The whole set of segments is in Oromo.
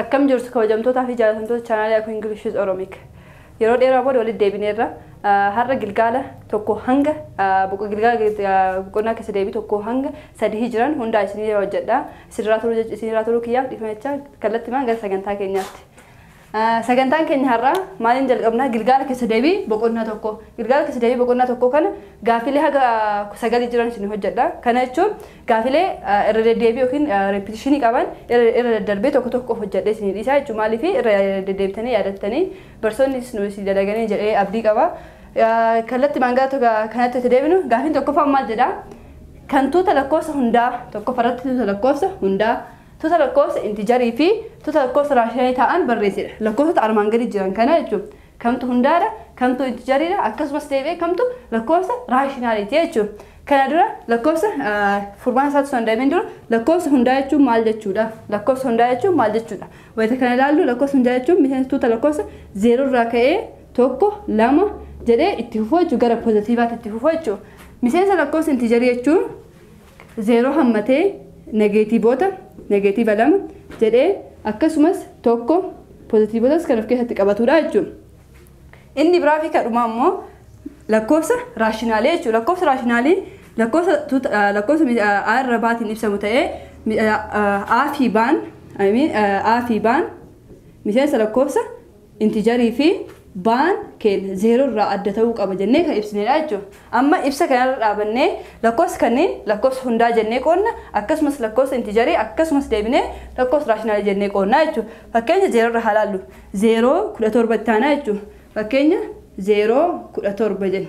Akkam jirtu kabajamtootaa fi jaallatamtoota chaanaalii Akuu Ingilish with Oromic. Yeroo dheeraa booda walitti deebineerra. Ah, Har'a gilgaala tokko hanga ah, boqo- gilgaala gil- ah, boqonnaa keessa deebii tokko hanga sadii jiran hundaa isinii hojjedha. Isinirraa turuu jecha- isinirraa turuu kiyyaaf dhiifama jechaa kallattimaan gara sagantaa keenyaatti. Ah, Sagantaan keenya har'aa maaliin jalqabnaa gilgaala keessa deebii boqonnaa tokko. Gilgaala keessa deebii boqonnaa tokko kana gaafilee haga sagalii jiran isin hojjedha. Kana jechuun gaafilee ah, irra deddeebii yookiin reepitishinii qaban irra irra daddarbee tokko tokko hojjedhee isin dhiisaa jechuudha. Maaliif irra deddeebitanii yaadattanii barsoonni isin isin dalaganii jedhee abdii qaba. Ah, Kallattimaan gara tokko- kanatti itti deebinu gaafiin tokkoffaan maal jedhaa? kan tuuta lakkoofsa hundaa tokkoffaa irratti tuuta lakkoofsa hundaa tuuta lakkoofsa intijarii fi tuuta lakkoofsa raashinaalii ta'an barreessedha. Lakkoofsota armaan gadi jiran kana jechuun kamtu hundaadha, kamtu intijariidha akkasumas deebi'ee kamtu lakkoofsa raashinaaliiti jechuudha. Kana dura lakkoofsa furmaata isaatti osoo hin deebiin dura lakkoofsa hundaa jechuun maal jechuudha? Lakkoofsa hundaa jechuun maal jechuudha? Wayita kana ilaallu lakkoofsa hundaa jechuun miseensa tuuta lakkoofsa zeeroo irraa ka'ee 1, 2 jedhee itti fufuu jechuun gara pozitiivaatti itti fufuu jechuun miseensa lakkoofsa intiijarii jechuun 0 hammatee negeetiivoota negeetiiva 2 jedhee akkasumas 1 pozitiivotas kan of keessatti qabatudha jechuun inni biraa fi kadhumaa immoo lakkoofsa raashinaalee jechuudha. Lakkoofsa raashinaalii lakkoofsa tuuta- ah, lakkoofsa mi- ah, a irra baatiin ibsamu ta'ee mi- ah, ah, a fi baan I mean, ah, a fi baan miseensa lakkoofsa Intijarii fi baan keenya zeeroo irraa adda ta'uu qaba jennee kan ibsineedha jechuudha. Amma ibsa kanarra dhaabannee lakkoofsa kanneen lakkoofsa hundaa jennee qoodna akkasumas lakkoofsa intijarii akkasumas deebinee lakkoofsa raashinaalii jennee qoodna jechuudha. Fakkeenya zeeroo irra haa laallu. Zeeroo 17 itti aanaa jechuudha. Fakkeenya zeeroo 17 jenna.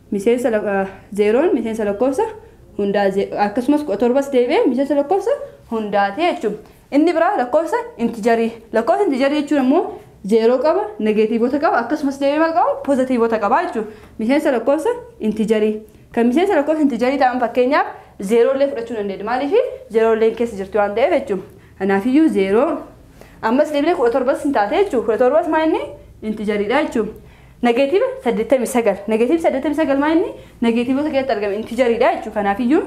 miseensa lak 0n miseensa lakkoofsa hundaa ze akkasumas 17s deebi'ee miseensa lakkoofsa hundaa ti jechuu dha. Inni biraa lakkoofsa intijarii. Lakkoofsa intijarii jechuun ammoo 0 qaba, negeetiivota qaba akkasumas deebi'ee maal qaba pozatiivota qaba jechuu dha. Miseensa lakkoofsa intijarii. Kan miseensa lakkoofsa intijarii ta'an fakkeenyaaf 0 illee fudhachuu dandeenya. Maaliifi 0 illeen keessa jirti waan ta'eef jechuu dha. Kanaaf iyyuu 0 ammas deebinee 17s hin taate jechuu dha. 17s maa inni intijarii dha jechuu dha. Negeetiiva 89. Negeetiiv 89 maa inni negeetiivota keessatti argame intijariidha jechuudha. Kanaafiyyuu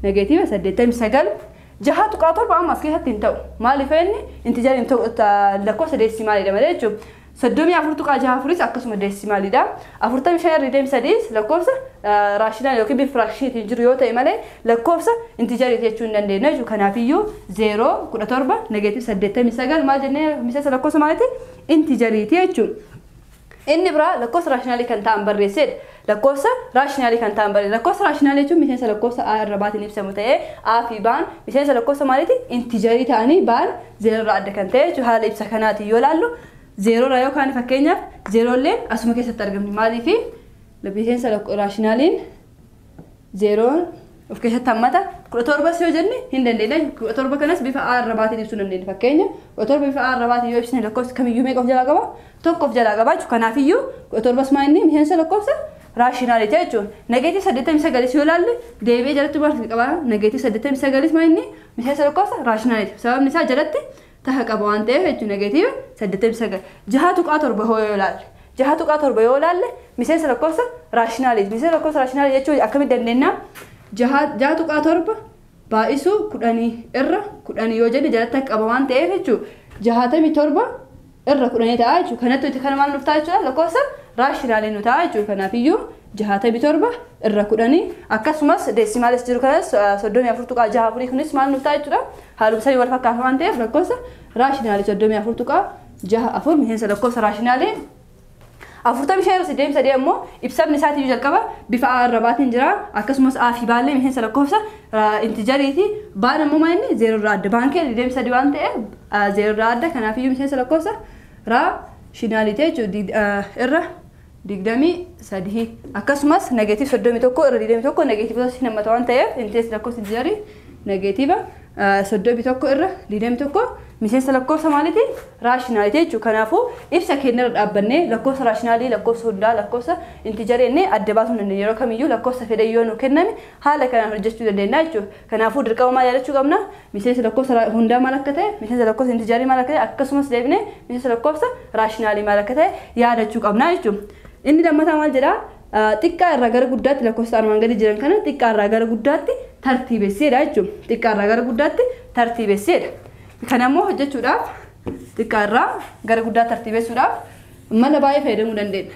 negeetiiva 89 jaha tuqaa torba amma as keessatti hin ta'u. Maaliif inni intijariin lakkoofsa deesimaaliidha malee jechuudha. Soddomii afur tuqaa jaha afuris akkasuma deesimaaliidha. Afurtamii shan irra deem sadiis lakkoofsa raashinaal yookiin bifa firaakshiiniitiin jiru yoo ta'e malee lakkoofsa intijariiti jechuu hin dandeenyu jechuudha. Kanaafiyyuu zeeroo kudha torba negeetiiv 89 maal jennee miseensa lakkoofsa maaliiti intijariiti jechuudha. Inni biraa lakkoofsa raashinaalii kan ta'an barreesseedha. Lakkoofsa raashinaalii kan ta'an barreessa. Lakkoofsa raashinaalii jechuun miseensa lakkoofsa A irra baatiin ibsamu ta'ee A fi Baan miseensa lakkoofsa maaliiti? Intijarii ta'anii Baan zeeroo irraa adda kan ta'e jechuudha. Haala ibsa kanaatiin yoo ilaallu zeeroo irraa yoo kaane fakkeenyaaf zeeroo illeen asuma keessatti argamti. Maaliif? Miseensa raashinaaliin zeeroon of keessatti hammata. Kudha torbas yoo jenne hin dandeenya. Kudha torba kanas bifa A arrabaatiin ibsuu dandeenya. Fakkeenya kudha torba bifa A arrabaatiin yoo ibsine lakkoofsi kamiyyuu meeqa of jalaa qaba? Tokko of jalaa qaba jechuudha. Kanaafiyyuu kudha torbas maa inni miseensa lakkoofsa raashinaaliiti jechuudha. Nageetii saddeettamii sagalis yoo ilaalle deebi'ee jalatti maal qaba? Nageetii saddeettamii sagalis maa inni miseensa lakkoofsa raashinaaliiti. Sababni isaa jalatti taha qaba waan ta'eef jechuun negatiiva 89. 6.7 hoo yoo ilaalle 6.7 yoo ilaalle miseensa lakkoofsa raashinaaliiti. Miseensa lakkoofsa raashinaalii jechuun akkamitti dandeenya? 6.7 baay'isuu 10 irra 10 yoo jenne jalatti akka qaba waan ta'eef jechuudha. 67 irra 10 ta'a jechuudha. Kanattu itti kana maal nuuf ta'a jechuudha? Lakkoofsa raashinaalii nu ta'a jechuudha. Kanaafiyyuu 67 irra 10 akkasumas deesimaalis jiru kanas 34.64 kunis maal nuuf ta'a jechuudha haaluma sanii wal fakkaata waan ta'eef lakkoofsa raashinaalii 34.64 miseensa lakkoofsa raashinaalii 45 irra 83 ammoo ibsamni isaatiin jalqaba bifa a irra baatiin jira akkasumas a fi baallee miseensa lakkoofsa intijariiti baan ammoo maa inni 0 irraa adda baankee 23 waan ta'eef 0 irraa adda kanaafiyyuu miseensa lakkoofsa raashinaalii ta'e jechuudha irra 23 akkasumas negeetiiv 31 irra 21 negeetiivota hin hammata waan ta'eef intirees lakkoofsi jarii negeetiiva 31 irra 21 miseensa lakkoofsa maaliiti raashinaalitii jechuudha. Kanaafuu ibsa keenya irra dhaabbannee lakkoofsa raashinaalii lakkoofsa hundaa lakkoofsa intijarii jennee adda baasuu dandeenya yeroo kamiyyuu lakkoofsa fedhe yoo nu kenname haala kanaan hojjechuu dandeenya jechuudha. Kanaafuu dirqama maal yaadachuu qabna? Miseensa lakkoofsa ra hundaa maal akka ta'e, miseensa lakkoofsa intijarii maal akka ta'e, akkasumas deebinee miseensa lakkoofsa raashinaalii maal akka ta'e yaadachuu qabna jechuudha. Inni lammataa maal jedha? Xiqqaa irraa gara guddaatti lakkoofsota armaan gadii jiran kana xiqqaa irraa gara guddaatti tartiibessi jedha jechuudha. Xiqqaa irraa gara guddaatti tartiibessi jedha. Kana immoo hojjechuudhaaf xiqqaa irraa gara guddaa tartiibessuudhaaf mala baay'ee fayyadamuu dandeenya.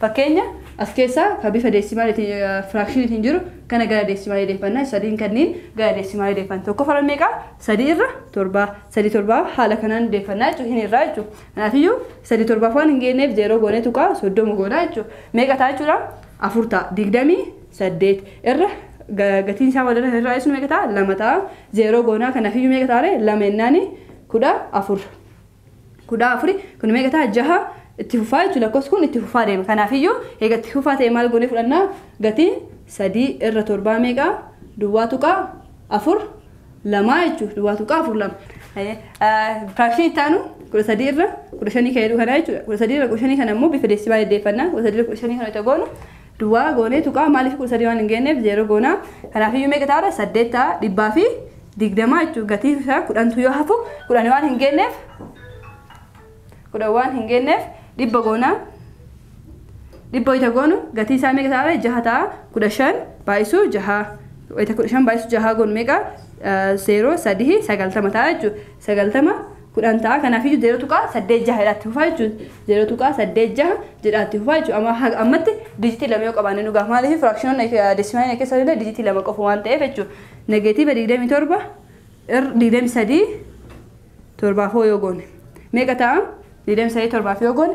Fakkeenya, As keessaa ka bifa deesimaaliti, firaakshinitiin jiru kana gara deesimaalii deeffanna. Sadiin kanniin gara deesimaalii deeffanna. Tokkoffaarra meeqa? Sadii irra torba. Sadii torbaaf haala kanaan deeffanna jechuudha. Hin hirraa jechuudha. Kanaafiyyuu sadii torbaaf waan hin geenneef zeeroo goonee tuqaa soddoma goona jechuudha. Meeqa ta'a jechuudha? Afur ta'a. Digdamii saddeet irra gatiin isaa wal irra hirraa ibsinu meeqa ta'a? Lama ta'a. Zeeroo goonaa kanaafiyyuu meeqa ta'a ree? Lama jennaani kudha afur. kudha afuri kun meeqa ta'a jaha itti fufaa jechuudha lakkoofsi kun itti fufaa deema kanaafiyyuu eega itti fufaa ta'e maal goonee fudhannaa gatiin sadii irra torbaa meeqa duwwaa tuqaa afur lamaa jechuudha duwwaa tuqaa afur lama firaakshinii itti aanu kudha sadii irra kudha shanii kan jedhu kana jechuudha kudha sadii irra kudha shanii kana immoo bifa deesibaa deddeeffannaa kudha sadii irra kudha shanii kana itti goonu duwwaa goonee tuqaa maaliif kudha sadii waan hin geenyeef zeeroo goona kanaaf iyyuu meeqa ta'a saddeet ta'a dhibbaa fi digdamaa jechuun gatii isaa kudhantu yoo hafu kudhan waan hin geenyeef kudhan waan hin geenyeef dhibba goona dhibba wayita goonu gatii isaa meeqa ta'a jaha ta'a kudha shan baay'isuu jaha wayita kudha shan baay'isuu jaha goonu meeqa zeeroo sadii sagaltama ta'a jechuudha sagaltama 10 ta'a. Kanaafiyyu 0.86 jedhaa itti fufaa jechuudha. 0.86 jedhaa itti fufaa jechuudha. Amma haga ammatti dijitii lama yoo qabaanne nu gaha. Maaliif firaakshinoonni deesimaalii keessa illee dijitii lama qofa waan ta'eef jechuudha. Negeetiiva 27 ir 23 torbaafoo yoo goone meeqa ta'a? 23 torbaaf yoo goone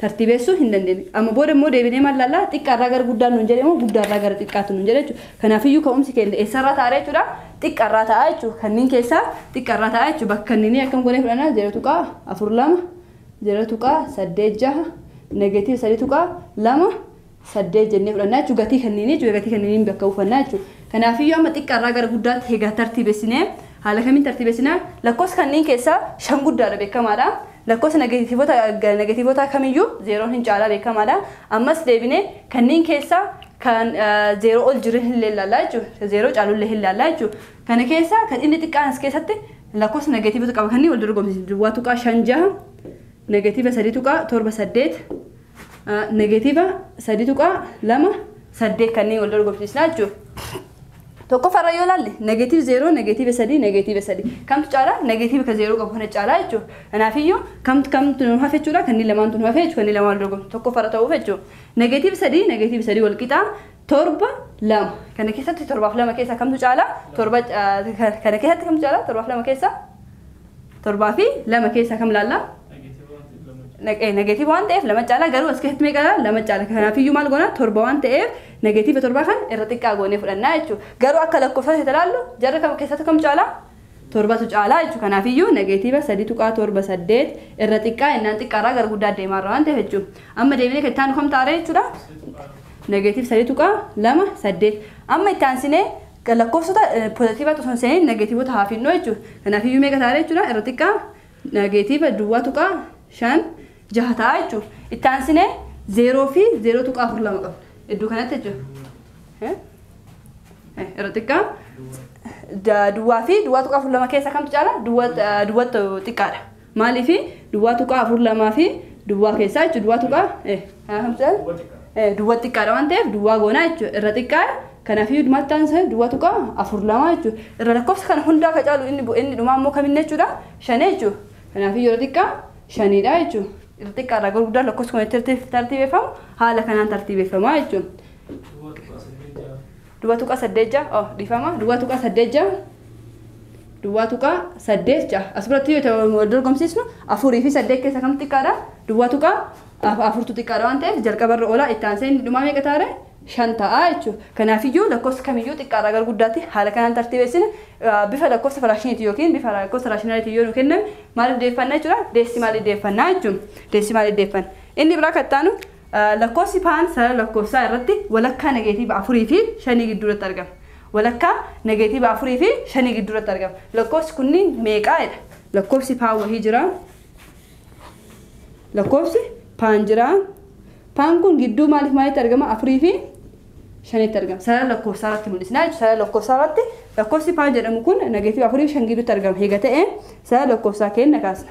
tartiibeessuu hin dandeenye. Amma booda immoo deebinee maal laallaa? Xiqqaa irraa gara guddaan nuun jedhe moo guddaa irraa gara xiqqaatu nuun jedhe jechuudha. Kanaafiyyuu ka'umsi keenya eessarraa ta'a jechuudha? Xiqqaa irraa ta'a jechuudha. Kanneen keessaa xiqqaa irraa ta'a jechuudha. Bakka inni akkam goonee fudhannaa? 0.42, 0.86, negatiiva 3.2, 8 jennee fudhannaa jechuun gatii kanniin jechuudha gatii kanniin bakka buufannaa jechuudha. Kanaafiyyuu amma xiqqaa irraa gara guddaatti hegaa tartiibessinee haala kamiin tartiibessinaa lakkoofsa kanniin keessaa shan guddaadha beekamaadha. Lakkoofsa negatiivota negatiivotaa kamiyyuu zeeroon hin caalaa beekamaadha. Ammas deebinee kanniin keessaa kan zeeroo ol jiru hin leellaalaa jechuudha. Kan zeeroo caalullee hin laallaa jechuudha. Kana keessaa kan inni xiqqaan as keessatti lakkoofsa negatiivota qaba kanniin wal dorgomsiisu duwwaa tuqaa shan jaha negatiiva sadii tuqaa torba saddeet negeetiiva 3.28 kanneen wal dorgomsiisna jechuudha. Tokkoffaarra yoo ilaalle negeetiiv 0, negeetiiva 3, negeetiiva 3. Kamtu caalaa? Negeetiiva ka 0 qabu kana caalaa jechuudha. Kanaafiyyuu kamtu kamtu nu hafe jechuudha. Kanneen lamaantu nu hafe jechuudha. Kanneen lamaan wal dorgomsiisna. Tokkoffaarra ta'uuf jechuudha. Negeetiiva 3, negeetiiva 3 wal qixaa torba lama. Kana keessatti torbaaf lama keessaa kamtu caalaa? Torba kana keessatti kamtu caalaa? Torbaaf lama keessaa? torbaa fi lama keessaa kam laalla? Negatiiva waan ta'eef lama caalaa garuu as keessatti meeqa laalla? Lama caala. Kanaafiyyuu maal goona? Torba waan ta'eef negatiiva torbaa kan irra xiqqaa goonee fudhannaa jechuudha. Garuu akka lakkoofsa keessatti laallu jarri kam keessatti kam caalaa? Torbatu caalaa jechuudha. Kanaafiyyuu negatiiva sadii tuqaa torba saddeet irra xiqqaa innaan xiqqaarraa gara guddaa deemaarra waan ta'eef jechuudha. Amma deebinee kan itti aanu kam taaree jechuudha? Negatiiva sadii tuqaa lama saddeet. Amma itti aansinee Egaa lakkoofsota pozatiivaatti osoo hin seeniin negeetiivota haa finnoo jechuudha. Kanaafiyyuu meeqa ta'a jechuudha irra xiqqaa negeetiiva duwwaa tuqaa shan jaha ta'a jechuudha. Itti aansinee zeeroo fi zeeroo tuqaa afur lama qabna. Iddoo kanatti jechuudha. Irra xiqqaa duwwaa fi duwwaa tuqaa afur lama keessa kamtu caala duwwaa xiqqaadha. Maaliif duwwaa tuqaa afur lamaa fi duwwaa keessaa jechuudha. Duwwaa tuqaa eh, haa hamsa eh, duwwaa xiqqaadha waan ta'eef duwwaa goonaa jechuudha. Irra xiqqaadha. Kanaaf iyyuu maal ta'an isaa duwwaa tuqaa afur lamaa jechuudha. Irra lakkoofsa kana hundaa ka caalu inni bu- inni dhumaa immoo kaminni jechuudha. Shanee jechuudha. Kanaaf iyyuu irra xiqqaa shaniidha jechuudha. Irra xiqqaa irraa gara guddaa lakkoofsa kun itti tartiibeffamu haala kanaan tartiibeffamaa jechuudha. Duwwaa tuqaa saddeet ja'a oh dhifama duwwaa tuqaa saddeet ja'a duwwaa tuqaa saddeet ja'a as biratti yoo ta'u wal dorgomsiisnu afurii fi saddeet keessa kam xiqqaadha duwwaa tuqaa af- afurtu xiqqaadha waan ta'eef jalqabarra olaa itti aansee inni dhumaa meeqa taare shan ta'a jechuudha kanaafiyyuu lakkoofsi kamiyyuu xiqqaarraa gara guddaatti haala kanaan tartiibessina Ah, bifa lakkoofsa firaakshiniitiin yookiin bifa lakkoofsa raashinaaliitiin yoo nu kenname maal iddeeffanna jechuudha deesimaalii iddeeffannaa jechuudha deesimaalii iddeeffanna inni biraa kan itti aanu Lakkoofsi paan sarara lakkoofsaa irratti walakkaa negeetiiva 4 fi 5 gidduu irratti argama. Walakkaa negeetiiva 4 fi 5 gidduu irratti argama. Lakkoofsi kunniin meeqaa jedha? Lakkoofsi paan wahii jira. Lakkoofsi paan jira. Paan kun gidduu maaliif maalitti argama? 4 fi 5tti argama. Sarara lakkoofsaa irratti mul'isna jechuudha. Sarara lakkoofsaa irratti lakkoofsi paan jedhamu kun negeetiiva 4 fi 5 gidduutti argama. Eega ta'e sarara lakkoofsaa keenya kaasna.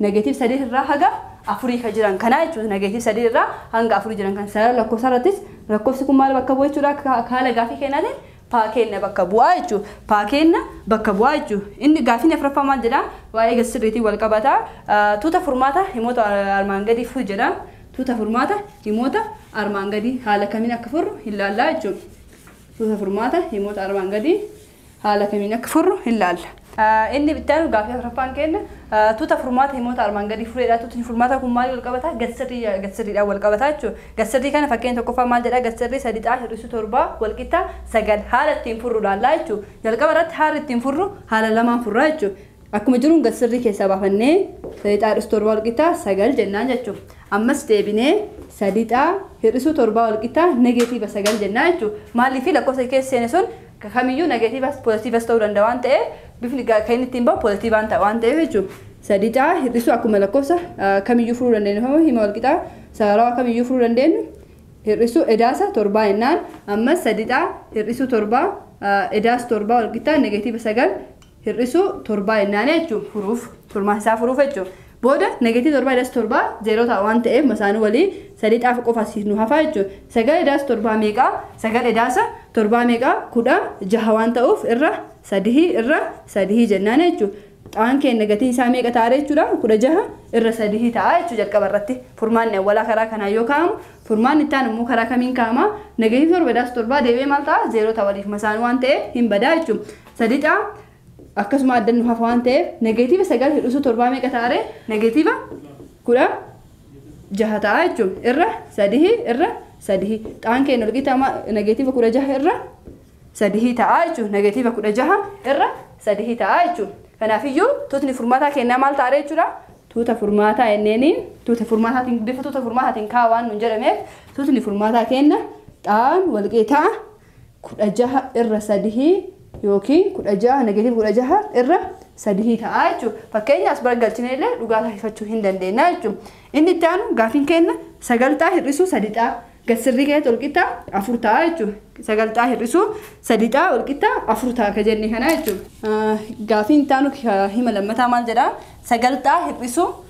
Negative 3 irraa haga 4 ka jiran kanaa jechuudha. Negative 3 irraa hanga 4 jiran kan sarara lakkoofsaa irrattis lakkoofsi kun maal bakka bu'a jechuudha akka haala gaafii keenyaatiin paa keenna bakka bu'aa jechuudha. Paa keenna bakka bu'aa jechuudha. Inni gaafiin afraffaa maal jedha? Waa'ee gati sirriitiin wal qabata. Tuuta furmaata himoota armaan gadii furi jedha. Tuuta furmaata himoota armaan gadii haala kamiin akka furru hin laallaa jechuudha. Tuuta furmaata himoota armaan gadii. haala kamiin akka furru hin laalla. Inni itti aanu gaaffii afraffaan keenna tuuta furmaata himoota armaan gadii fureedha. Tuutni furmaataa kun maaliin walqabata? Gadsirrii gadsirriidhaan walqabata jechuudha. Gadsirrii kana fakkeenya tokkoffaa maal jedha? Gadsirrii 3 xaa hir'isuu 7 walqixa 9. Haala ittiin furru laallaa jechuudha. Jalqaba irratti haalli ittiin furru haala lamaan furraa jechuudha. Akkuma jiruun gadsirrii keessaa baafannee 3 xaa hir'isuu 7 walqixa 9 jennaan jechuudha. Ammas deebinee 3 xaa hir'isuu 7 walqixa negeetiiva 9 jennaa jechuudha. Maaliif lakkoofsa keessa seene sun Ka kamiyyuu negatiivas pozatiivas ta'uu danda'a waan ta'eef bifni ga kan inni ittiin ba'u pozatiivaan ta'a waan ta'eef jechuudha. sadii caa hir'isuu akkuma lakkoofsa kamiyyuu furuu dandeenyu yookaan hima walqixaa sararawaa kamiyyuu furuu dandeenyu hir'isuu edaasa torbaa jennaan ammas sadii caa hir'isuu torbaa edaas torbaa walqixaa negatiiva sagal hir'isuu torbaa jennaan jechuun furuuf turmaata isaa furuuf jechuudha. Booda negative torbaa das torbaa zeeroo ta'a waan ta'eef masaanuu walii sadii xaafu qofa asiif nu hafaa jechuudha. Sagal edaas torbaa meeqa? Sagal edaasa torbaa meeqa? Kudha jaha waan ta'uuf irra sadihi irra sadihi jennaan jechuudha. Xaan keen negative isaa meeqa ta'a jechuudha? Kudha jaha irra sadihi ta'a jechuudha jalqaba irratti. Furmaanni awwalaa karaa kanaan yoo kaa'amu furmaanni itti aanu immoo karaa kamiin kaa'ama? Negative torba edaas torbaa deebi'ee maal ta'a? Zeeroo ta'a waliif masaanuu waan ta'eef hin badaa jechuudha. Sadixa akkasuma adda nu hafa waan ta'eef negeetiiva sagal hir'isuu torbaa meeqa ta'a ree? Negeetiiva kudha jaha ta'a jechuun irra sadihii irra sadihii xaan keenya walqixa ma- negeetiiva kudha jaha irra sadihii ta'a jechuun negeetiiva kudha jaha irra sadihii ta'a jechuun kanaafiyyuu tuutni furmaataa kennaa maal ta'a ree jechuudha tuuta furmaataa enneeni tuuta furmaataatiin bifa tuuta furmaataatiin kaa'aa waan nuun jedhameef tuutni furmaataa kenna xaan walqixa 16 irra 3 yookiin 16 negative 16 irra 3 ta'a jechuudha. Fakkeenya as baragalchine illee dhugaa taasifachuu hin dandeenya jechuudha. Inni itti aanu gaafiin kenna sagalxaa hir'isuu sadixaa gad sirrii keessatti walqixxaa afur ta'a jechuudha. Sagalxaa hir'isuu sadixaa walqixxaa afur ta'a akka jenne kana jechuudha. Gaafiin itti aanu hima lammataa maal jedhaa? Sagalxaa hir'isuu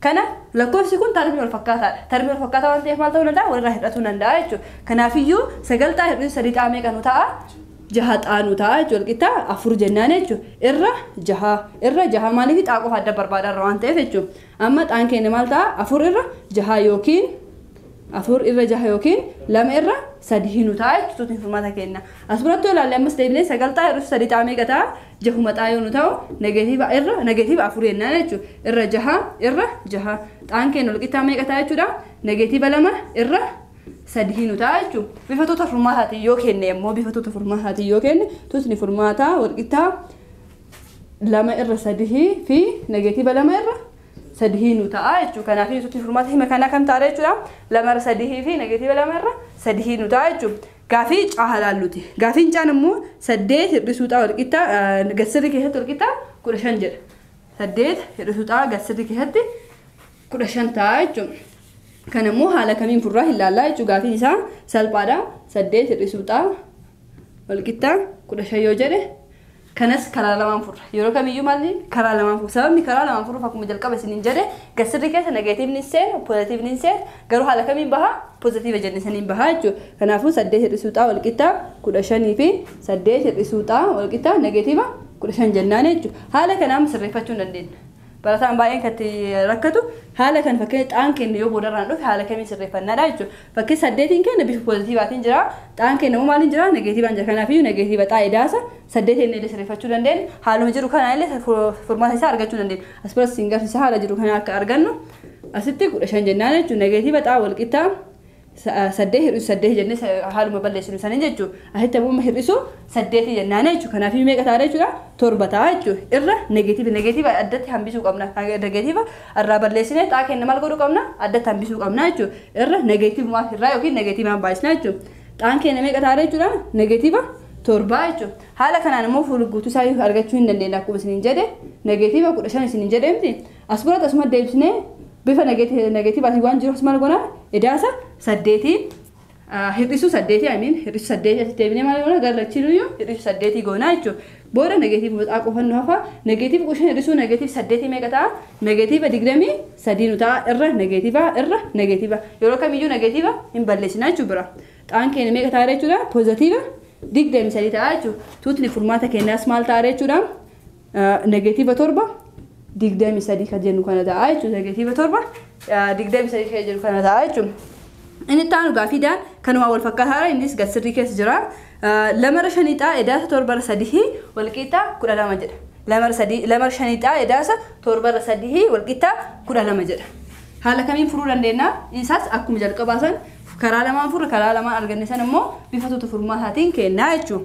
Kana lakkoofsi kun tarmii walfakkaataadha. Tarmii walfakkaataa waan ta'eef maal ta'uu danda'a? Walirraa hir'atuu danda'a jechuudha. Kanaafiyyuu sagal xaa hir'isuun sadii xaa meeqa nu ta'a? Jaha xaa nu ta'a jechuudha. Walqixxaa afur jennaan jechuudha. Irra jaha. Irra jaha maaliif xaa qofa adda barbaada irra waan ta'eef jechuudha. Amma xaan keenya maal ta'a? Afur irra jaha yookiin afur irra jaha yookiin lama irra sadii nu ta'a jechuudha furmaata keenya. As biratti yoo ilaalle ammas deebinee sagal xaa hir'isuun sadii xaa meeqa ta'a? jahuma xaa yoo nu ta'u negeetiiva irra negeetiiva afur jennaan jechuudha. Irra jaha irra jaha xaan keenya walqixxaa meeqa ta'a jechuudha. Negeetiiva lama irra sadii nu ta'a jechuudha. Bifa tuuta furmaataatiin yoo kenne immoo bifa tuuta furmaataatiin yoo kenne tuutni furmaataa walqixxaa lama irra sadii fi negeetiiva lama irra sadii nu ta'a jechuudha. Kanaaf tuutni furmaata hima kanaa kam ta'a jechuudha. Lama irra sadii fi negeetiiva lama irra sadii nu ta'a jechuudha. Gaafii C haa laalluti. Gaafiin C'aan ammoo 8 hir'isuu X walqixa gadsirrii keessatti walqixa 15 jedha. 8 hir'isuu X gadsirrii keessatti 15 ta'a jechuudha. Kan ammoo haala kamiin furraa hin laallaa jechuudha. Gaafiin isaa salphaadha. 8 hir'isuu X walqixa 15 yoo jedhe Kanas karaa lamaan furra. Yeroo kamiyyuu maalli karaa lamaan furra. Sababni karaa lamaan furruuf akkuma jalqaba isiniin jedhe gasirri keessa negatiivni hin seenu, pozatiivni hin seenu. Garuu haala kamiin baha? Pozatiiva jenne saniin baha jechuudha. Kanaafuu saddeet hir'isuu xaa wal qixxaa kudha shanii fi saddeet hir'isuu xaa wal qixxaa negatiiva kudha shan jennaan jechuudha. Haala kanaan sirreeffachuu hin dandeenya. Barataan baay'een kan itti rakkatu haala kan fakkeenya xaan keenya yoo boodarraan dhufe haala kamiin sirreeffannaadha jechuudha. Fakkii saddeetiin keenya bifa poozitiivaatiin jira. Xaan keenya immoo maaliin jira? Negeetiivaan jira. Kanaafiyyuu negeetiiva xaa idaasa saddeetiin illee sirreeffachuu dandeenya. Haaluma jiru kanaan illee furmaata isaa argachuu dandeenya. As biratti siin garsiisa haala jiru kana akka argannu asitti kudha shan jennaan jechuudha. Negeetiiva xaa walqixxaa saddeet hir'isu saddeeti jennee haaluma balleessinu saniin jechuun asitti ammoo hir'isu saddeeti jennaana jechuudha. Kanaaf meeqa taana jechuudha torba ta'a jechuudha. Irra negeetiiva negeetiiva addatti hambisuu qabna. Negeetiiva irraa balleessinee xaa kenna maal godhuu qabna addatti hambisuu qabna jechuudha. Irra negeetiivumaa irraa yookiin negeetiivaan baay'isna jechuudha. Xaan keenya meeqa taana jechuudha negeetiiva torbaa jechuudha. Haala kanaan immoo fuulguutuu isaa argachuu hin dandeenya akkuma isiniin jedhe negeetiiva kudha shan isiniin jedhe miti. As biratti asuma deebisnee bifa negeetiivaatiin waan jiruuf maal goona edaasa saddeetii hir'isuu saddeetii amiin hir'isuu saddeetii asitti deebinee maal goona gara lachiinuyyuu hir'isuu saddeetii goonaa jechuudha. Booda negeetiiva boxaa qofa nu hafa negeetiiva qushan hir'isuu negeetiiva saddeetii meeqa ta'a negeetiiva digdamii sadii nu ta'a irra negeetiiva irra negeetiiva yeroo kamiyyuu negeetiiva hin balleessina jechuudha bira xaan keenya meeqa ta'a jechuudha poozatiiva digdamii sadii ta'a jechuudha tuutni furmaata keenyaas maal ta'a jechuudha. Negeetiiva 7 23 kan jennu kana ta'a jechuudha. Negeetiiva 7 23 kan jennu kana ta'a jechuudha. Inni itti aanu gaafii daan kanumaa wal fakkaataadha innis gad sirrii keessa jira. Lamarra shaniixaa edaasa torbarra sadihii walqiixxaa kudha lama jedha. Lamarra sadii lamarra shaniixaa edaasa torbarra sadihii walqiixxaa kudha lama jedha. Haala kamiin furuu dandeenya? Isaas akkuma jalqabaa san karaa lamaan furre karaa lamaan arganne san immoo bifa tuuta furmaataatiin kennaa jechuudha.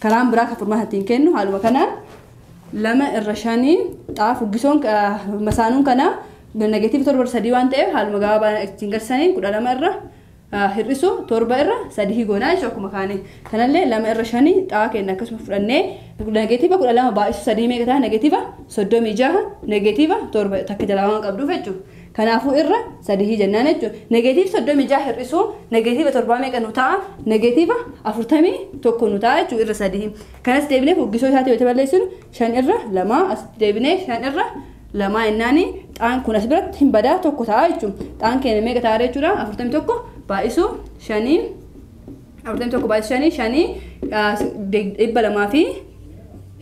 Karaan biraa kan furmaata ittiin kennu haaluma kanaan lama irra shaniin xaa fuggisoon masaanuun kana negeetiivi torba irra sadii waan ta'eef haaluma gabaabaa ittiin garsaniin kudha lama irra hir'isu torba irra sadii goonaa jechuudha akkuma kaane kanallee lama irra shanii xaa kenna akkasuma fudhannee negeetiiva kudha lama baay'isu sadii meeqa ta'a negeetiiva soddomii jaha negeetiiva torba takka jalaa waan qabduuf jechuudha. Kanaafuu irra sadihii jennaan jechuudha. Negatiiv 36 hir'isuu negatiiva torbaa meeqa nu ta'a? Negatiiva 41 nu ta'a jechuudha irra sadihii. Kanas deebinee fuggisoo isaatii wayita balleessinu shan irra lamaa as deebinee shan irra lamaa jennaani xaan kun as biratti hin badaa tokko ta'a jechuudha. Xaan keenya meeqa ta'a jechuudha? 41 baay'isuu shaniin Afurtamii tokko baay'ee shanii shanii dhibba lamaa fi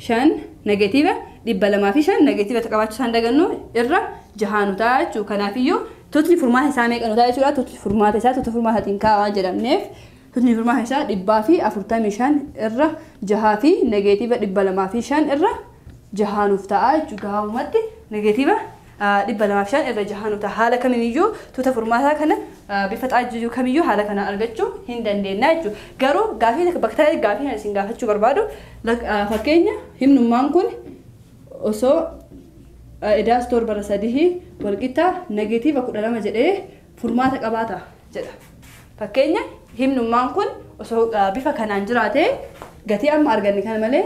shan negeetiiva dhibba lamaa fi shan negeetiiva qabaachuu isaan dagannu irra jahaa nu ta'a jechuudha. Kanaafiyyuu tutni furmaata isaa meeqa nu ta'a jechuudha. Tutni furmaata isaa tuta furmaata ittiin kaa'aa waan jedhamneef tutni furmaata isaa dhibbaa fi afurtamii shan irra jahaa fi negeetiiva dhibba lamaa fi shan irra jahaa nuuf ta'a jechuudha. Gabaabumatti negeetiiva 205 irra jahaa nuta haala kaminiyyuu tuuta furmaataa kana bifa xaajjuu kamiyyuu haala kanaan argachuu hin dandeennaa jechuu garuu gaafii bakka gaafii kan isin gaafachuu barbaadu fakkeenya himnummaan kun osoo edaa stoor bara sadihii walqixxaa negeetiiva kudha lama jedhee furmaata qabaata jedha fakkeenya himnummaan kun osoo bifa kanaan jiraatee gatii amma arganne kana malee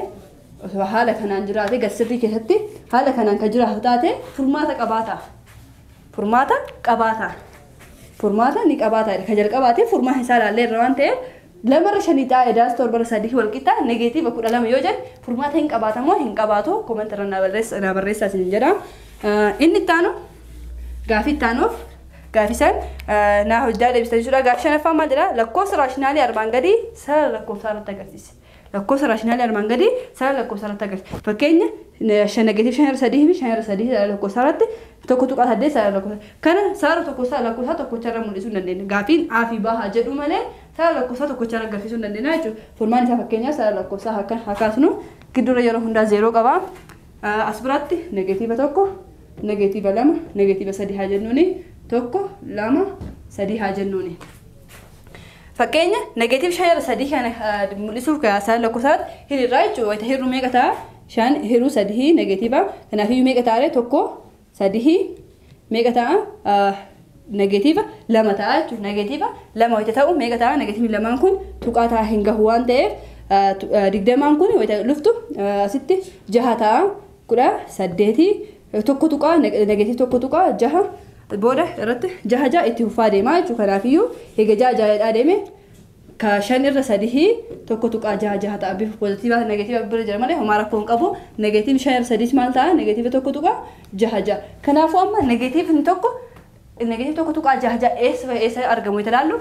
Osoo haala kanaan jiraate gadsirrii keessatti haala kanaan kan jiraatu taate furmaata qabaata. Furmaata qabaata. Furmaata ni qabaata. Kan jalqabaatiif furmaata isaa ilaallee irra waan ta'eef lamarra shanii ta'a edaas torbarra sadii wal qixa negeetiiva kudha lama yoo jedhe furmaata hin qabaata moo hin qabaatu koomenti irra naa barreessa naa barreessaa isin jedha. Inni itti aanu gaafii itti aanuuf gaafisan naa hojjaa deebisan jechuudha. Gaafii shanaffaa maal jedha lakkoofsa raashinaalii armaan gadii sarara lakkoofsaa irratti agarsiisa. Lakkoofsa raashinaalii armaan gadii sara lakkoofsaa irratti agarsiisa. Fakkeenya 5 negatiiv 5 irra 3 fi 5 irra 3 sara lakkoofsaa irratti 1.8 sara lakkoofsaa. Kana sara tokkosaa lakkoofsaa tokkocha irra mul'isuu hin dandeenya. Gaafiin A fi B haa jedhu malee sara lakkoofsaa tokkocha irra agarsiisuu hin dandeenya jechuudha. Furmaan isaa fakkeenyaa sara lakkoofsaa hakan haa kaasnu gidduurra yeroo hundaa zeeroo qaba. As biratti negatiiva tokko negatiiva lama negatiiva sadii haa jennuuni tokko lama sadii haa jennuuni. Fakkeenya negative shan irra sadii kana mul'isuuf kaasaan lakkoofsaan hiriirraa jechuudha. Wayita hirru meeqa ta'a? Shan hirru sadii negatiiva. Kanaaf iyyuu meeqa ta'a? Tokko sadii meeqa ta'a? Negatiiva lama ta'a jechuudha. Negatiiva lama wayita ta'u meeqa ta'a? Negatiivni lamaan kun tuqaa ta'a hin gahu waan ta'eef digdamaan kun wayita luftu asitti jaha ta'a kudha saddeetii tokko tuqaa negative tokko tuqaa jaha booda irratti jaha jaha itti fufaa deemaa jechuudha kanaafiyyuu eega jaha jaha jedhaa deeme ka shan irra sadihii tokko tuqaa jaha jaha ta'a bifa pozitiivaa negatiiva bira jira malee homaa rakkoo hin qabu negatiiv shan irra sadiis maal ta'a negatiiva tokko tuqaa jaha jaha kanaafuu amma negatiivni tokko negatiiv tokko tuqaa jaha jaha eessa eessa argamu itti ilaallu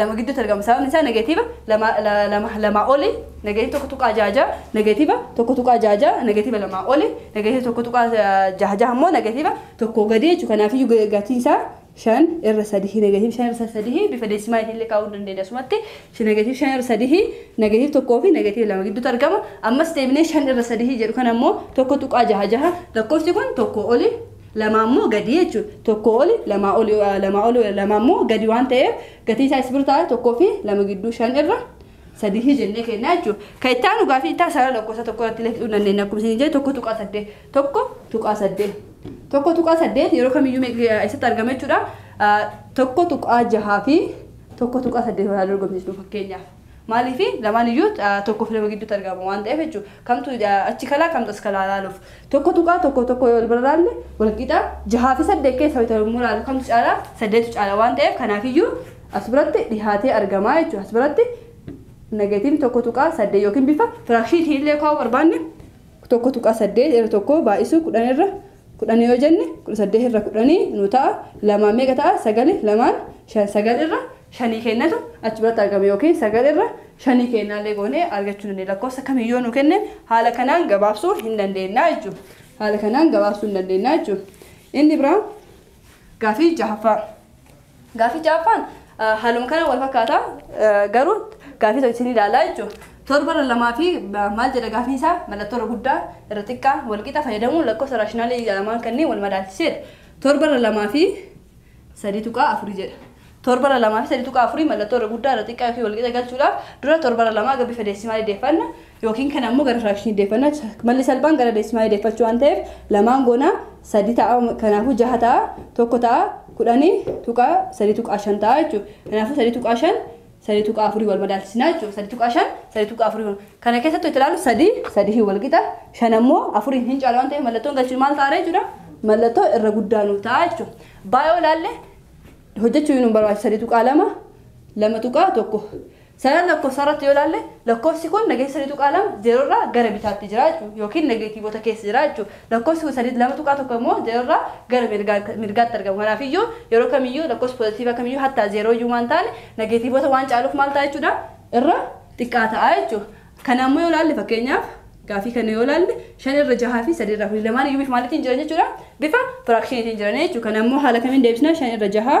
lama gidduutti argama sababni isaa negeetiiva lama lama lamaa oli negeetiiva tokko tuqaa jaha jaha negeetiiva tokko tuqaa jaha jaha negeetiiva lamaa oli negeetiiva tokko tuqaa jaha jaha immoo negeetiiva tokko gadii jechuudha kanaafiyyuu gatiin isaa shan irra sadihii negeetiiva shan irra sadihii bifa deesimaatiin illee kaa'uu dandeenya asumatti negeetiiva shan irra sadihii negeetiiva tokkoo fi negeetiiva lama gidduutti argama ammas deebinee shan irra sadihii jedhu kan ammoo tokko tuqaa jaha jaha lakkoofsi kun tokko oli lamaa immoo gadi jechuudha. Tokko oli lamaa oli lamaa oli lamaa immoo gadi waan ta'eef gatii isaa isbir taa'e tokkoo fi lama gidduu shan irra sadii jennee kennaa jechuudha. Kan itti aanu gaafii itti sarara lakkoofsa tokko irratti illee fiduu dandeenya akkuma isin jedhe tokko tuqaa saddeet tokko tuqaa saddeet tokko tuqaa saddeet yeroo kamiyyuu eessatti argama jechuudha. Tokko tuqaa jahaa fi tokko tuqaa saddeet walaa dorgomsiisnu fakkeenyaaf. Maaliifi lamaan iyyuu tokkoof lama gidduutti argama waan ta'eef jechuudha. Kamtu achi kalaa kamtu as kalaa ilaaluuf. Tokko tuqaa tokko tokko yoo bira ilaalle wal qixa jahaa fi saddeet keessa wayita yommuu ilaalu kamtu caalaa saddeetu caala waan ta'eef kanaaf iyyuu as biratti dhihaatee argamaa jechuudha. As biratti negatiivni tokko tuqaa saddeet yookiin bifa firaakshiitiin illee kaa'uu barbaanne tokko tuqaa saddeet irra tokko baay'isuu kudhan irra 10 yoo jenne 18 irra 10 nu ta'a lamaan meeqa ta'a sagali lamaan shan sagal irra shanii kennatu achi biratti argama yookiin sagal irra shanii kennaallee goonee argachuu dandeenya lakkoofsa kamiin yoo nu kenne haala kanaan gabaabsuu hin dandeenya jechuudha haala kanaan gabaabsuu hin dandeenya jechuudha inni biraa gaafii jahaffaa Gaafii ja'affaan haaluma kana wal fakkaata garuu gaafii tokko isin ilaalaa jechuudha. Torba irra lamaa fi maal jedha gaafii isaa mallattoo irra guddaa irra xiqqaa wal qixa fayyadamuun lakkoofsa raashinaalii lamaan kanneen wal madaalchiseera. Torba irra lamaa fi sadii tuqaa afurii jedha. Torba irra lamaa fi sadii tuqaa afurii mallattoo irra guddaa irra xiqqaa yookiin wal qixa galchuudhaaf dura torba irra lamaa gara bifa deessimaalii deeffanna. yookiin kana ammoo gara firaakshinii deeffanna malli salphaan gara deesimaalii deeffachuu waan ta'eef lamaan goona sadi ta'a kanaafuu jaha ta'a tokko ta'a kudhanii tuqaa sadii tuqaa shan ta'a jechuudha kanaafuu sadii tuqaa shan sadii tuqaa afurii wal madaalchisinaa jechuudha sadii tuqaa shan sadii tuqaa afurii wal kana keessatti itti ilaalu sadii sadii hin wal qixa shan ammoo afuriin hin caala waan ta'eef mallattoon galchuun maal ta'a jechuudha mallattoo irra guddaa nuuf ta'a jechuudha baay'oo ilaalle hojjechuu nu barbaachisa sadii tuqaa lama lama tuqaa tokko Sarara lakkofsaa irratti yoo ilaalle lakkofsi kun nageessa 3.2 0 irraa gara bitaatti jira jechuudha yookiin nageetiivota keessa jira jechuudha. Lakkofsi kun 3 2.1 immoo 0 irraa gara mirgaatti argama. Kanaaf iyyuu yeroo kamiyyuu lakkofsi poozatiivaa kamiyyuu hattaa 0 iyyuu waan taane nageetiivota waan caaluuf maal ta'a jechuudha irra xiqqaa ta'a jechuudha. Kana ammoo yoo ilaalle fakkeenyaaf gaafii kana yoo ilaalle 5 irra 6 fi 3 irraa kuni lamaan iyyuu bifa maaliitiin jiran jechuudha bifa firaakshiniitiin jiran jechuudha. Kana ammoo haala kamiin deebisna 5 irra 6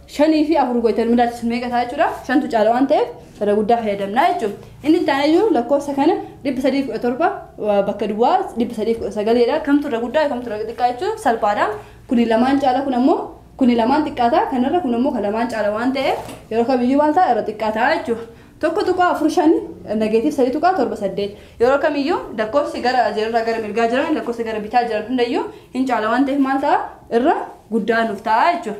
shanii fi afur gootee wal madaalchisu meeqa ta'a jechuudha. Shantu caala waan ta'eef irra guddaa fayyadamna jechuudha. Inni itti aanee jiru lakkoofsa kana dhibba sadii kudha torba bakka duwwaa dhibba sadii kudha sagaleedha. Kamtu irra guddaa kamtu irra xiqqaa jechuun salphaadha. Kuni lamaan caala kun ammoo kuni lamaan xiqqaata kanarra kun ammoo kan lamaan caala waan ta'eef yeroo kamiyyuu maal ta'a irra xiqqaa ta'a jechuudha. Tokko tuqaa afur shan negeetiif sadii tuqaa torba saddeet yeroo kamiyyuu lakkoofsi gara zeerorraa gara mirgaa jiran lakkoofsa gara bitaa jiran hundayyuu hin caala waan ta'eef maal ta'a irra guddaa nuuf ta'a jechuudha.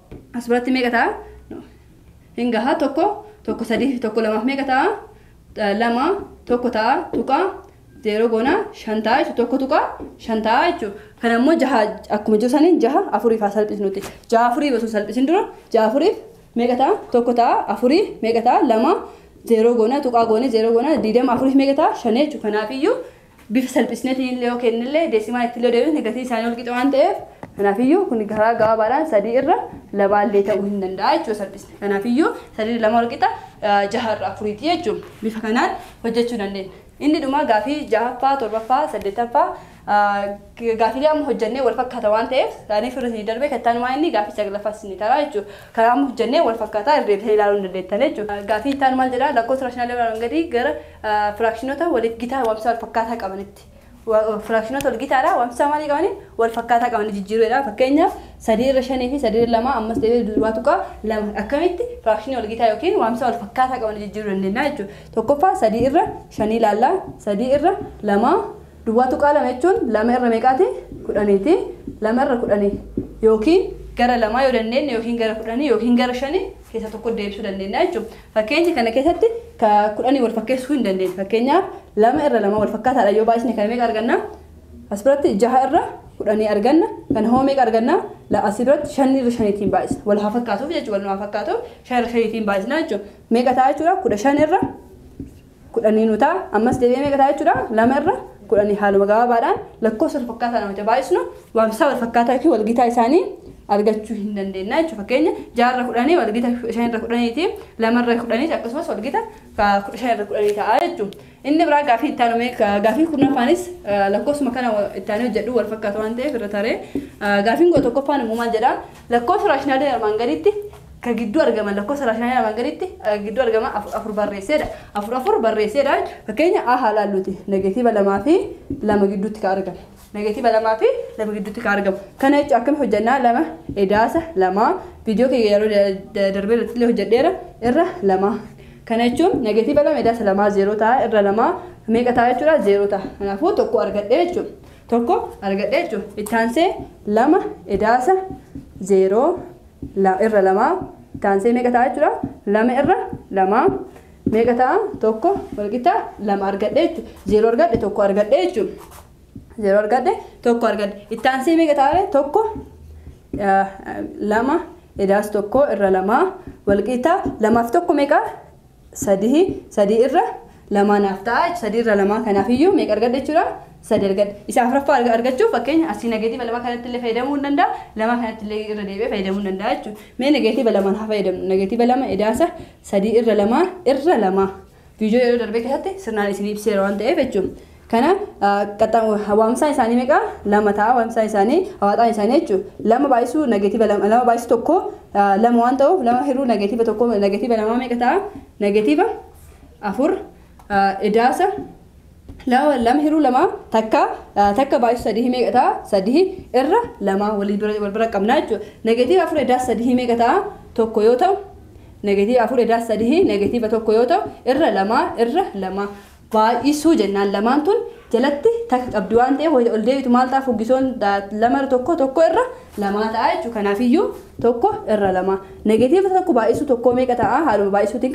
As biratti meeqa ta'a? No. Hin gaha tokko tokko sadii fi tokko lamaaf meeqa ta'a? Eh, Lama tokko ta'a tuqaa zeeroo goona shan ta'a jechuudha. Tokko tuqaa shan ta'a jechuudha. Kana immoo jaha akkuma jiru saniin jaha afuriif haa salphisnuti. Jaha afuriif osoo hin salphisin dura jaha afuriif meeqa ta'a? Tokko ta'a afurii meeqa ta'a? Lama zeeroo goona tuqaa goone zeeroo goona diidama afuriif meeqa ta'a? Shan jechuudha. Kanaafiyyuu bifa salphisneetiin illee yoo kenne illee deesimaa itti illee deebisne gatiin isaanii wal qixa waan ta'eef kanaafiyyuu kun karaa gabaabaadhaan sadii irra lamaa illee ta'uu hin danda'a jechuudha salphisne. Kanaafiyyuu sadii irra lama wal qixa jaha irra afuriiti jechuudha. Bifa kanaan hojjechuu dandeenya. Inni dhumaa gaafii jahaffaa, torbaffaa, saddeettaffaa gaafiilee amma hojjennee wal fakkaata waan ta'eef isaaniif irra isinii darbee kan taanumaa inni gaafii saglaffaa isinii taraa jechuudha. Karaa amma hojjennee wal fakkaataa irra deebitanii ilaaluu hin dandeettan jechuudha. Gaafii itti aanu maal jedhaa lakkoofsa raashinaalii irraa gadii gara Firaakshinoota waliif gitaa waamsa walfakkaataa qabanitti. Firaakshinoota walgitaadha waamsa maalii qabanii walfakkaataa qabanii jijjiiruudha. Fakkeenyaaf sadii irra shanii fi sadii irra lamaa ammas deebi'ee duwwaa tuqaa lama akkamitti firaakshinii walgitaa yookiin waamsa walfakkaataa qabanii jijjiiruu dandeenya jechuudha. Tokkoffaa sadii irra shanii ilaallaa sadii irra lamaa duwwaa tuqaa lama jechuun lama irra meeqaati kudhaniiti lama irra kudhanii yookiin gara lamaa yoo dandeenye yookiin gara kudhanii yookiin gara shanii keessa tokko deebisuu dandeenya jechuudha. Fakkeenya kana keessatti ka kudhanii wal fakkeessuu hin dandeenye. Fakkeenyaaf lama irra lama wal fakkaataadha yoo baay'isne kana meeqa arganna? As biratti jaha irra kudhanii arganna. Kana hoo meeqa arganna? As biratti shan irra shaniitiin baay'isna. Wal haa fakkaatuuf jechuudha. Wal haa fakkaatuuf shan irra shaniitiin baay'isna jechuudha. Meeqa ta'a jechuudha? Kudha shan irra kudhanii nuu ta'a. Ammas deebi'ee meeqa ta'a jechuudha? Lama irra kudhanii haaluma gabaabaadhaan lakkoofsa wal fakkaataa nama itti baay'isnu waamsisaa wal fakkaataa yookiin wal gitaa isaanii argachuu hin dandeenya jechuudha. Fakkeenya ja'a irra kudhanii wal gita kudha shan irra kudhaniiti. Lama irra kudhaniis akkasumas wal gita kudha shan irra kudhanii ta'a jechuudha. Inni biraa gaafii itti aanu gaafii kurnaffaanis lakkoofsuma kana itti aanee hojjedhu wal fakkaata waan ta'eef irra taree gaafiin kudha tokkoffaan immoo maal jedha? Lakkoofsa raashinaalee armaan gaditti ka gidduu argaman lakkoofsa raashinaalee armaan gaditti eh, gidduu argaman afur afur barreesseedha. Afur afur barreesseedha. Fakkeenya A haa laalluuti. Negeetiiva lamaa fi lama gidduutti ka argamu. Negeetiiva lamaa fi lama gidduutti ka argamu. Kana jechuun akkam hojjannaa lama edaasa lamaa viidiyoo kiyya yeroo da- da- darbee irratti illee hojjedheera irra lamaa. Kana jechuun negeetiiva lama edaasa lamaa zeeroo ta'a irra lamaa meeqa ta'a jechuudha zeeroo ta'a. Kanaafuu tokko argadhee jechuudha. tokko argadhe jechuudha. Itti aansee lama edaasa zeeroo irra lamaa itti aansee meeqa ta'a jechuudha. Lama irra lamaa meeqa ta'a tokko walqixa lama argadhe jechuudha. Zeeroo argadhe tokko argadhe jechuudha. Zeeroo argadhe tokko argadhe. Itti aansee meeqa ta'a tokko lama edaas tokko irra lamaa walqixa lamaaf tokko meeqa 3 3 irra lamaa naaf ta'a 3 irra lamaa kanaaf iyyuu meeqa argadha jechuudha 3 argadha isa afraffaa arga- argachuuf fakkeenya asii nageetiiva lamaa kanatti illee fayyadamuu hin danda'a lamaa kanatti illee irra deebi'ee fayyadamuu hin danda'a jechuudha mee nageetiiva lamaan haa fayyadamnu nageetiiva lama edaasa 3 irra lamaa irra lamaa viidiyoo yeroo darbee keessatti sirnaan isin ibseera waan ta'eef jechuudha Kana waamsaan isaanii meeqa? Lama ta'a waamsaan isaanii hawaaxaan isaanii jechuun lama baay'isuu nageetiiva lama lama baay'isuu tokko lama waan ta'uuf lama hiruu nageetiiva tokko nageetiiva lamaa meeqa ta'a? Nageetiiva afur idaasa lama lama hiruu lama takka takka baay'isuu sadii meeqa ta'a? Sadii irra lama walii bira wal bira qabna jechuudha. Nageetiiva afur idaasa sadii meeqa ta'a? Tokko yoo ta'u nageetiiva afur idaasa sadii nageetiiva tokko yoo ta'u irra lama irra lama baay'isuu jennaan lamaan tun jalatti takka qabdi waan ta'eef wayita ol deebitu maal ta'a fuggisoon lama irra tokko tokko irra lamaa ta'a jechuudha kanaafiyyuu tokko irra lama negeetiiva tokko baay'isuu tokkoo meeqa ta'a haaluma baay'isuutiin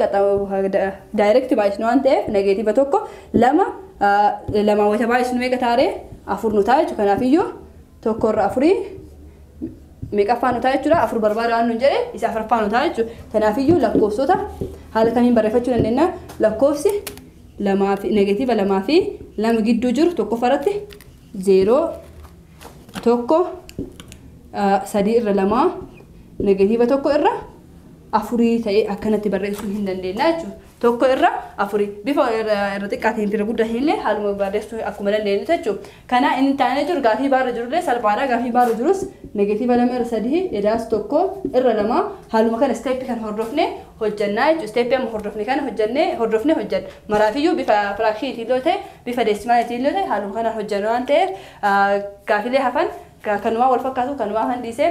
daayirekti baay'isnu waan ta'eef negeetiiva tokko lama lama wayita baay'isnu meeqa taaree afur nu ta'a jechuudha kanaafiyyuu tokko irra afurii meeqaffaa nu ta'a jechuudha afur barbaada waan nuun jedhe isa afraffaa nu ta'a jechuudha kanaafiyyuu lakkoofsota haala kamiin barreeffachuu dandeenya lakkoofsi lamaa fi negeetiiva lamaa fi lama gidduu jiru tokkoffaa irratti zeeroo tokko ah, sadii irra lamaa negeetiiva tokko irra afurii ta'ee akkanatti barreessuu hin dandeenya jechuudha. tokko irra afuri bifa irra xiqqaa ta'een irra guddaa hin illee haaluma barreessuu akkuma dandeenyu jechu kana inni taanee jiru gaafii baarra jiru illee salphaadha gaafii baarra jirus negatiiva lama irra sadii edaas tokko irra lama haaluma kana isteeppi kan hordofne hojjannaa jechu isteeppi amma hordofne kana hojjannee hordofne hojjanna maraafiyyuu bifa firaakshiinitiin yoo ta'e bifa deesimaalitiin yoo ta'e haaluma kanaan hojjanna waan ta'eef gaafilee hafan kanumaa wal fakkaatu kanumaa kan dhiise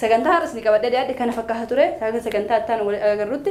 sagantaa har'as ni qabadhee dhiyaadhe kana fakkaata ture sagantaa ittaan wal agarrutti